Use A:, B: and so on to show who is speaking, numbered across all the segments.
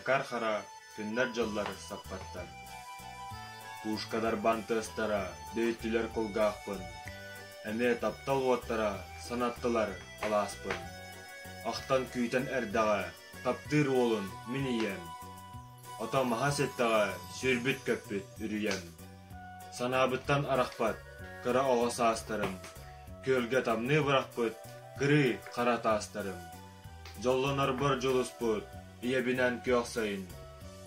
A: Макар Хара күннэр-дьыллар саппаттар. Пушкадарбаан тыастара дөйүттүлэр кулгаахпын, эмиэ таптал уоттара санаттылар алааспын. Ахтан күүтэн эрдэҕэ таптыыр уолун мин ийэм, ото маһа ситтэҕэ сүүрбүт көппүт үрүйэм. Санаабыттан арахпат кыра оҕо саастарым, күөлгэ тамныы бырахпыт кырыы хара таастарым. Дьоллонорбор дьулуспут, ийэбинэн күөхсэйин,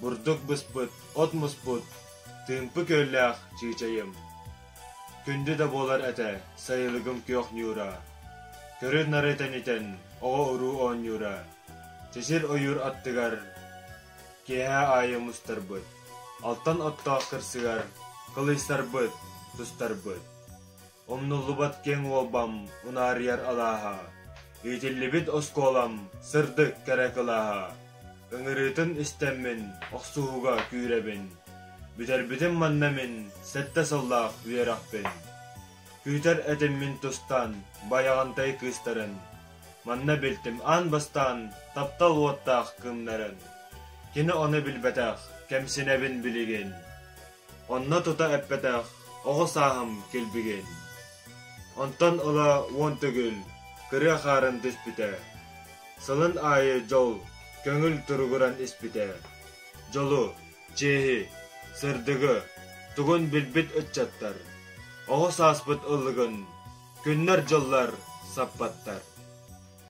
A: бурдук быспыт, от муспут, тыымпы күөллээх чыычайым. Күндү да буолар этэ сайылыгым күөх ньуура, көрүн-нары тэнитэн оҕо-уруу оонньуура, сисир ойуур аттыгар киэһэ аайы мустарбыт, алтан оттоох кырсыгар кылыйсарбыт, тустарбыт. Умнуллубат киэҥ уолбам, унаарыйар алааһа, иитиллибит оскуолам, сырдык кэрэ кылааһа. Ыҥырыытын истэммин, охсуһууга күүрэбин. Бүтэрбитим манна мин, сэттэ сыллаах үөрэхпин. Күүтэр этиммин тустаан, байаҕантай кыыстарын. Манна билтим аан бастаан, таптал уоттаах кыннарын. Кини ону билбэтэх, кэмсинэбин билигин. Онно тута эппэтэх оҕо сааһым кэлбигин. Онтон ыла уон төгүл кырыа хаарын түспүтэ. Сылын аайы дьол, көҥүл туругуран испитэ. Дьолу, чиэһи, сырдыгы тугун билбит ыччаттар, оҕо сааспыт ыллыгын күннэр-дьыллар саппаттар.